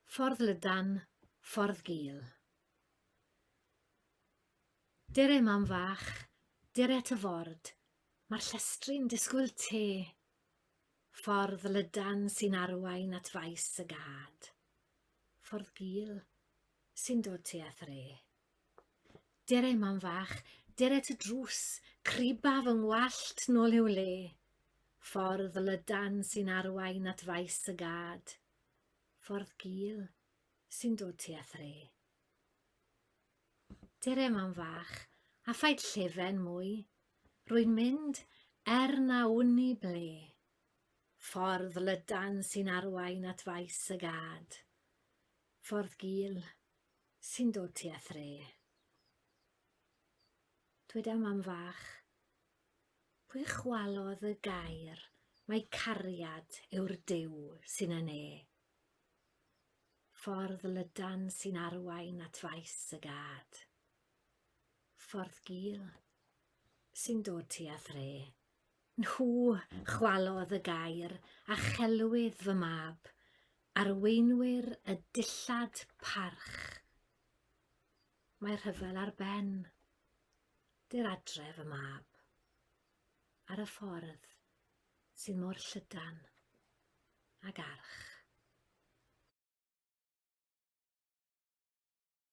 Ffordd Lydan, Ffordd Gul. Dere mam fach, dere ty ford, mae'r llestri'n disgwyl te. Ffordd lydan sy'n arwain at faes y gad. Ffordd gul sy'n dod tu a thre. Dere mam fach, dere ty drws, criba fy ngwallt nôl i'w le. Ffordd lydan sy'n arwain at faes y gad. Ffordd gul sy'n dod tu a thre. Dere mam fach, a phaid llefen mwy. Rwy'n mynd er na wn i ble. Ffordd lydan sy'n arwain at faes y gad. Ffordd gul Sy'n dod tua thre. Dweda mam fach, pwy chwalodd y gair mae cariad yw'r Duw sy'n yn e? Ffordd lydan sy'n arwain at faes y gad. Ffordd gil sy'n dod tua thre. Nhw chwalodd y gair a chelwyd fy mab, arweinwyr y dillad parch. Mae rhyfel ar ben. Dy'r adre fy mab. Ar y ffordd sydd mor llydan ag arch.